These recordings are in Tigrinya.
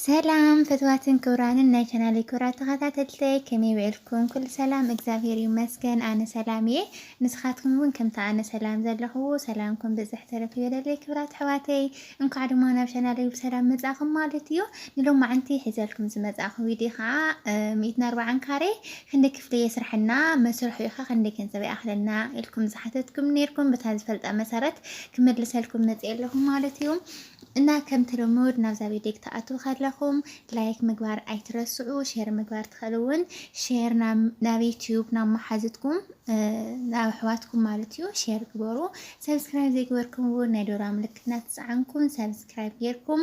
ሰላም ፍትዋትን ክብራንን ናይ ቻናለይ ክብራት ተከታተልተይ ከመይ ዊዕልኩም ኩሉ ሰላም እግዛብሄር ይመስገን ኣነ ሰላም እየ ንስካትኩም እውን ከምቲ ኣነ ሰላም ዘለክዎ ሰላምኩም ብዝሕ ተረፍ ይበለለይ ክብራት ኣሕዋተይ እንኳዕ ድማ ናብ ቻናለይ ብሰላም መጻእኩም ማለት እዩ ንሎማዓንቲ ሒዘልኩም ዝመጻእኩ ቪድዮ ከዓ ሚእትን ኣርባዓን ካሬ ክንደይ ክፍሊ የስርሐና መስርሑ ኢካ ክንደይ ገንዘብ ይኣክለና ኢልኩም ዝሓተትኩም ነርኩም በታ ዝፈልጣ መሰረት ክመልሰልኩም መጽኤ ኣለኹ ማለት እዩ እና ከምቲ ልሙድ ናብዛ ቪድዮ ክትኣትዉ ከለኹም ላይክ ምግባር ኣይትረስዑ ሼር ምግባር ትኽእሉ ውን ሼር ናብ ዩትዩብ ናብ መሓዝትኩም ናብ ኣሕዋትኩም ማለት እዩ ሼር ግበሩ ሰብስክራይብ ዘይግበርኩም ውን ናይ ዶራ ምልክት እናተፀዓንኩም ሰብስክራይብ ጌርኩም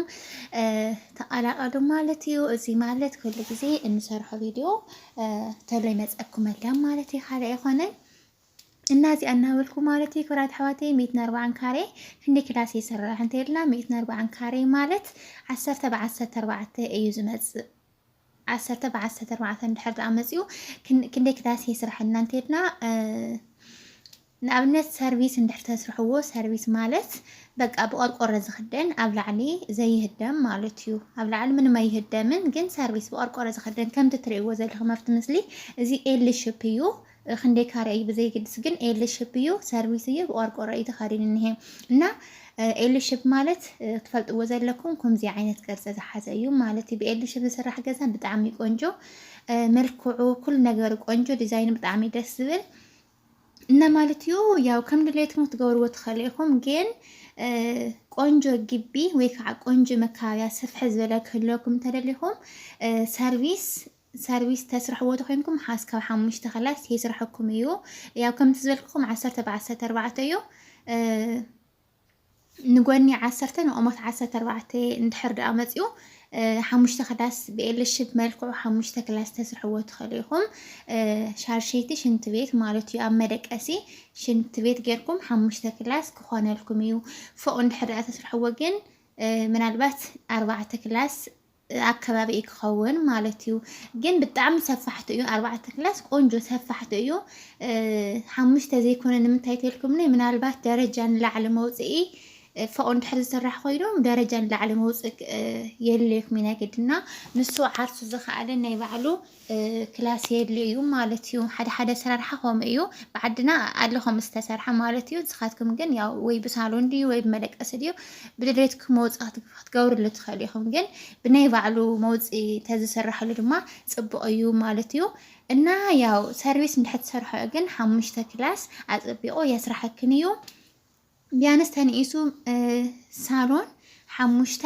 ተቐላቐሉ ማለት እዩ እዚ ማለት ኩሉ ግዜ እንሰርሖ ቪድዮ ተሎ ይመፀኩም ኣለ ማለት እዩ ካልእ ኣይኮነን እና እዚኣ እናበልኩ ማለት እዩ ክብራት ኣሕዋተይ ሚእትን ኣርባዓን ካሬ ክንደይ ክላስ ይስራሕ እንተይልና ሚእትን ኣርባዓን ካሬ ማለት ዓሰርተ ብዓሰርተ ኣርባዕተ እዩ ዝመፅእ ዓሰርተ ብዓሰርተ ኣርባዕተ እንድሕር ደኣ መፂኡ ክንደይ ክላስ ይስራሕልና እንተይልና ንኣብነት ሰርቪስ እንድሕር ተስርሕዎ ሰርቪስ ማለት በቃ ብቆርቆሮ ዝኽደን ኣብ ላዕሊ ዘይህደም ማለት እዩ። ኣብ ላዕሊ ምንም ኣይህደምን፣ ግን ሰርቪስ ብቆርቆሮ ዝኽደን ከምቲ ትርእይዎ ዘለኹም ኣብቲ ምስሊ እዚ ኤል ሽፕ እዩ። ክንደይ ካሬ እዩ ብዘይግድስ ግን ኤል ሽፕ እዩ ሰርቪስ እዩ ብቆርቆሮ እዩ ተኸዲኑ እኒሀ እና ኤል ሽፕ ማለት ክትፈልጥዎ ዘለኩም ከምዚ ዓይነት ቅርፂ ዝሓዘ እዩ ማለት እዩ ብኤል ሽፕ ዝስራሕ ገዛ ብጣዕሚ ቆንጆ መልክዑ ኩሉ ነገሩ ቆንጆ ዲዛይኑ ብጣዕሚ ደስ ዝብል እና ማለት እዩ ያው ከም ድሌትኩም ክትገብርዎ ትኽእሉ ኢኹም ግን ቆንጆ ግቢ ወይ ከዓ ቆንጆ መካበያ ስፍሕ ዝበለ ክህልወኩም እንተደሊኹም ሰርቪስ ሰርቪስ ተስርሕዎ ተኮይንኩም ሓዝ ካብ ሓሙሽተ ከላስ የስረሐኩም እዩ ያው ከምቲ ዝበልክኹም ዓሰርተ ብዓሰርተ ኣርባዕተ እዩ ንጎኒ ዓሰርተ ንቆሞት ዓሰርተ ኣርባዕተ እንድሕር ደኣ መፅኡ ሓሙሽተ ክላስ ብኤልሽብ መልክዑ ሓሙሽተ ክላስ ተስርሕዎ ትኽእሉ ኢኹም ሻርሸይቲ ሽንት ቤት ማለት እዩ ኣብ መደቀሲ ሽንት ቤት ጌርኩም ሓሙሽተ ክላስ ክኾነልኩም እዩ ፎቅ እንድሕር ደኣ ተስርሕዎ ግን ምናልባት ኣርባዕተ ክላስ ኣከባቢ እዩ ክኸውን ማለት እዩ ግን ብጣዕሚ ሰፋሕቲ እዩ ኣርባዕተ ክላስ ቆንጆ ሰፋሕቲ እዩ ሓሙሽተ ዘይኮነ ንምንታይ ተልኩምኒ ምናልባት ደረጃ ንላዕሊ መውፅኢ ፎቅ እንድሕር ዝስራሕ ኮይኑ ደረጃ ንላዕሊ መውፅእ የድልየኩም ኢና ግድና ንሱ ዓርሱ ዝኸኣለ ናይ ባዕሉ ክላስ የድልዮ እዩ ማለት እዩ ሓደ ሓደ ኣሰራርሓ ከምኡ እዩ ብዓድና ኣሎ ከም ዝተሰርሐ ማለት እዩ ንስኻትኩም ግን ያው ወይ ብሳሎን ድዩ ወይ ብመደቀሲ ድዩ ብድሌትኩም መውፅኢ ክትገብርሉ ትኽእሉ ኢኹም ግን ብናይ ባዕሉ መውፅኢ ተዝስራሕሉ ድማ ፅቡቕ እዩ ማለት እዩ እና ያው ሰርቪስ እንድሕር ትሰርሖ ግን ሓሙሽተ ክላስ ኣፀቢቑ የስራሐክን እዩ ቢያንስ ተንኢሱ ሳሎን ሓሙሽተ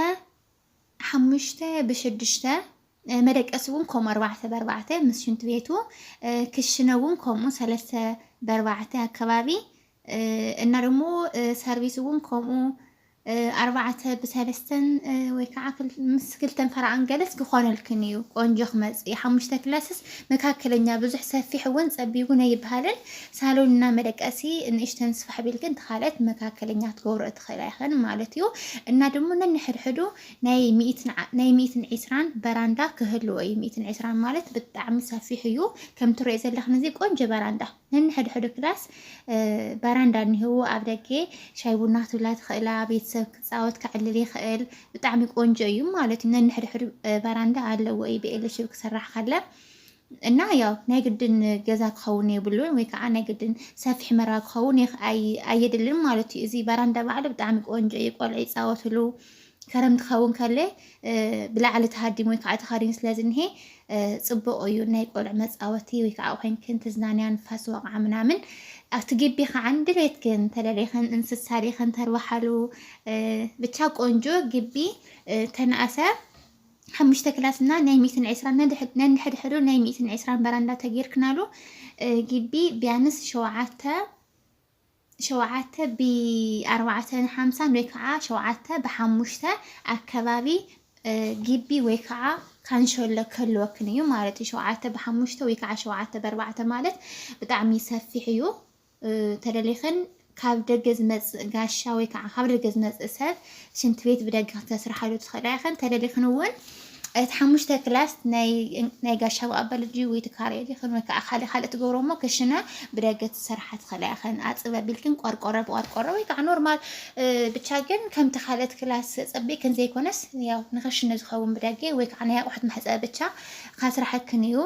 ሓሙሽተ ብሽዱሽተ መደቀሲ እውን ከምኡ ኣርባዕተ በርባዕተ ምስ ሽንት ቤቱ ክሽነ እውን ከምኡ ሰለስተ በርባዕተ ኣከባቢ እና ደግሞ ሰርቪስ እውን ከምኡ ኣርባዕተ ብሰለስተን ወይ ከዓ ምስ ክልተን ፈራዕን ገለስ ክኾነልክን እዩ ቆንጆ ክመፅእ እዩ ሓሙሽተ ክላስስ መካከለኛ ብዙሕ ሰፊሕ እውን ፀቢብ እውን ኣይበሃልን ሳሎን እና መደቀሲ ንእሽተን ስፋሕ ቢልክን ተኻልአት መካከለኛ ትገብሮ እትኽእላ ኢኽን ማለት እዩ እና ድሞ ነንሕድሕዱ ናይ ሚእትን ናይ ሚእትን ዒስራን በራንዳ ክህልዎ እዩ ሚእትን ዒስራን ማለት ብጣዕሚ ሰፊሕ እዩ ከም ትሪኦ ዘለኽን እዚ ቆንጆ በራንዳ ነንሕድሕዱ ክላስ በራንዳ እኒህዎ ኣብ ደገ ሻይ ቡና ትብላ ትኽእላ ቤተሰብ ክፃወት ክዕልል ይኽእል ብጣዕሚ ቆንጆ እዩ ማለት እዩ ነንሕድሕዱ በራንዳ ኣለዎ እዩ ብኤሌክትሪክ ክስራሕ ካለ እና ያው ናይ ግድን ገዛ ክኸውን የብሉን ወይ ከዓ ናይ ግድን ሰፊሕ መራ ክኸውን ኣየድልን ማለት እዩ። እዚ በራንዳ ባዕሉ ብጣዕሚ ቆንጆ እዩ፣ ቆልዑ ይፃወትሉ ከረምቲ ክኸውን ከለ ብላዕሊ ተሃዲሙ ወይ ከዓ ተኸዲኑ ስለ ዝኒሀ ፅቡቕ እዩ ናይ ቆልዑ መፃወቲ ወይ ከዓ ኮይንክን ትዝናንያ ንፋስ ወቕዓ ምናምን ኣብቲ ግቢ ከዓ ድሌትክን እንተደሌኽን እንስሳ ሌኽን ተርባሓሉ ብቻ ቆንጆ ግቢ ተናእሰ ሓሙሽተ ክላስ እና ናይ ሚእትን ዕስራን ነንሕድሕዱ ናይ ሚእትን ዕስራን በራንዳ ተጌርክናሉ ግቢ ቢያንስ ሸውዓተ ሸውዓተ ብኣርባዕተን ሓምሳን ወይ ከዓ ሸውዓተ ብሓሙሽተ ኣከባቢ ግቢ ወይ ከዓ ካንሸሎ ከልወክን እዩ ማለት እዩ ሸውዓተ ብሓሙሽተ ወይ ከዓ ሸውዓተ በርባዕተ ማለት ብጣዕሚ ሰፊሕ እዩ ተደሊኽን ካብ ደገ ዝመጽእ ጋሻ ወይ ከዓ ካብ ደገ ዝመጽእ ሰብ ሽንቲ ቤት ብደገ ክተስርሓሉ ትኽእላ ኢኽን። ተደሊኽን እውን እቲ ሓሙሽተ ክላስ ናይ ጋሻ ብኣበል ድዩ ወይ ትካረየ ዲኽን ወይ ከዓ ካልእ ካልእ ትገብሮ እሞ ክሽነ ብደገ ትሰርሓ ትኽእላ ኢኽን። ኣፅብ ኣቢልክን ቆርቆሮ ብቆርቆሮ ወይ ከዓ ኖርማል ብቻ ግን ከምቲ ካልእት ክላስ ፀቢእክን ዘይኮነስ ያው ንክሽነ ዝኸውን ብደገ ወይ ከዓ ናይ ኣቑሑት መሕፀቢ ብቻ ካስራሐክን እዩ።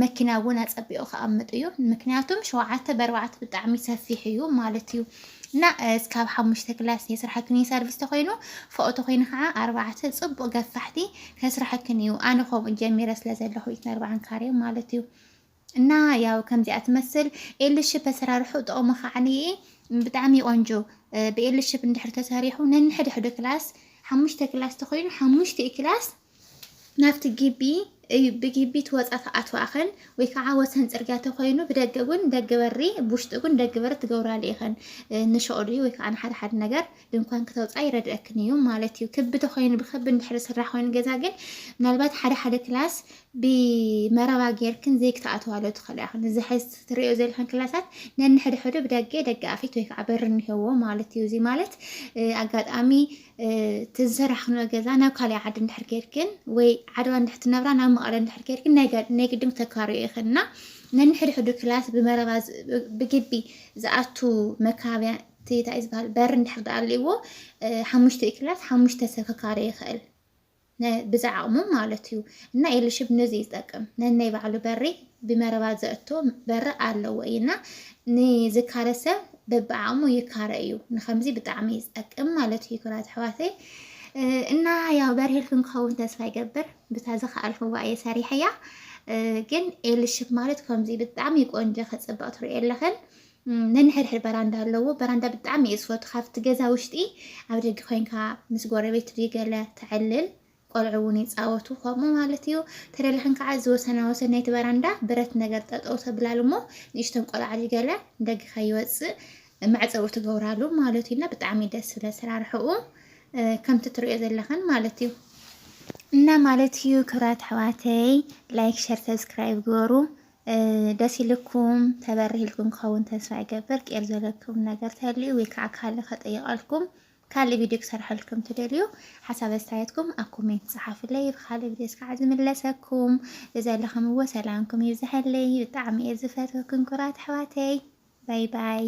መኪና ውን ኣጸቢቁ ክኣምጥ እዩ ምክንያቱም ሸውዓተ በርባዕተ ብጣዕሚ ሰፊሕ እዩ ማለት እዩ እና እስካብ ሓሙሽተ ክላስ የስርሓክን እዩ ሰርቪስ ተኮይኑ ፎኦ ተኮይኑ ከዓ ኣርባዕተ ጽቡቅ ገፋሕቲ ከስርሐክን እዩ ኣነ ከምኡ ጀሚረ ስለ ዘለኹ ኢትን ኣርባዓን ካሬ ማለት እዩ እና ያው ከምዚኣ ትመስል ኤልሽፕ ኣሰራርሑ ጥቕሙ ከዓ ብጣዕሚ ቆንጆ ብኤልሽፕ እንድሕር ተሰሪሑ ነንሕድሕዱ ክላስ ሓሙሽተ ክላስ ተኮይኑ ሓሙሽተ ክላስ ናብቲ ግቢ እዩ ብግቢ ትወፃ ትኣትዋ ኣኸን ወይ ከዓ ወሰን ፅርግያ ተኮይኑ ብደገ እውን ደገ በሪ ብውሽጢ እውን ደገ በሪ ትገብራሉ ኢኸን ንሸቕሉ ወይ ከዓ ንሓደ ሓደ ነገር ድንኳን ክተውፃ ይረድአክን እዩ ማለት እዩ ክቢ ተኮይኑ ብክቢ እንድሕሪ ስራሕ ኮይኑ ገዛ ግን ምናልባት ሓደ ሓደ ክላስ ብመረባ ጌርክን ዘይክትኣትዋሎ ትኽእላ ኢኽን እዚ ሕዚ ትሪኦ ዘለኽን ክላሳት ነንሕድሕዱ ብደገ ደገ ኣፊት ወይ ከዓ በሪ እኒሄዎ ማለት እዩ እዚ ማለት ኣጋጣሚ እቲ ዝሰራሕክንዮ ገዛ ናብ ካልእ ዓዲ እንድሕር ከይድክን ወይ ዓድዋ እንድሕር ትነብራ ናብ መቐለ እንድሕር ከይድክን ናይ ግድን ክተካርዮ ኢኽን እና ነንሕድሕዱ ክላስ ብመረባ ብግቢ ዝኣቱ መካብያ እቲ እንታይ ዝበሃል በሪ እንድሕር ድኣልዎ ሓሙሽተ ክላስ ሓሙሽተ ሰብ ክካርዮ ይኽእል። ን ብዝዓቕሞም ማለት እዩ እና ኤልሽብ ነዚ እዩ ዝጠቅም ነናይ ባዕሉ በሪ ብመረባ ዘእቶ በሪ ኣለዎ እዩ እና ንዝካረ ሰብ በብዓቕሙ ይካረ እዩ ንከምዚ ብጣዕሚ እዩ ዝጠቅም ማለት እዩ ክብራት ኣሕዋተይ እና ያው በርሄልክን ክኸውን ተስፋ ይገብር ብታ ዝኸኣልክዋ እየ ሰሪሐያ ግን ኤልሽብ ማለት ከምዚ ብጣዕሚ ቆንጆ ከፅብቕ ትሪኦ ኣለኽን ነንሕድሕድ በራንዳ ኣለዎ በራንዳ ብጣዕሚ እየ ዝፈቱ ካብቲ ገዛ ውሽጢ ኣብ ደገ ኮይንካ ምስ ጎረቤት ድዩ ገለ ተዕልል ቆልዑ እውን ይፃወቱ ከምኡ ማለት እዩ ተደላሕን ከዓ እዚ ወሰና ወሰን ናይቲ በራንዳ ብረት ነገር ጠጠው ተብላሉ እሞ ንእሽተን ቆልዓ ድዩ ገለ ንደገ ከይወፅእ መዕፀዊ ትገብራሉ ማለት እዩ እና ብጣዕሚ ደስ ዝብል ኣሰራርሕኡ ከምቲ ትሪኦ ዘለኽን ማለት እዩ እና ማለት እዩ ክብራት ኣሕዋተይ ላይክ ሸር ሰብስክራይብ ግበሩ ደስ ኢልኩም ተበሪህልኩም ክኸውን ተስፋ ይገብር ቄር ዘለኩም ነገር ተልዩ ወይ ከዓ ካልእ ከጠይቐልኩም ካልእ ቪድዮ ክሰርሐልኩም ትደልዩ ሓሳብ ኣስተያየትኩም ኣብ ኮሜንት ፀሓፍለይ ብካልእ ቪድዮ እስካዓ ዝምለሰኩም ብዘለኹምዎ ሰላምኩም ይብዝሐለይ ብጣዕሚ እየ ዝፈትወኩም ኩራት ኣሕዋተይ ባይ ባይ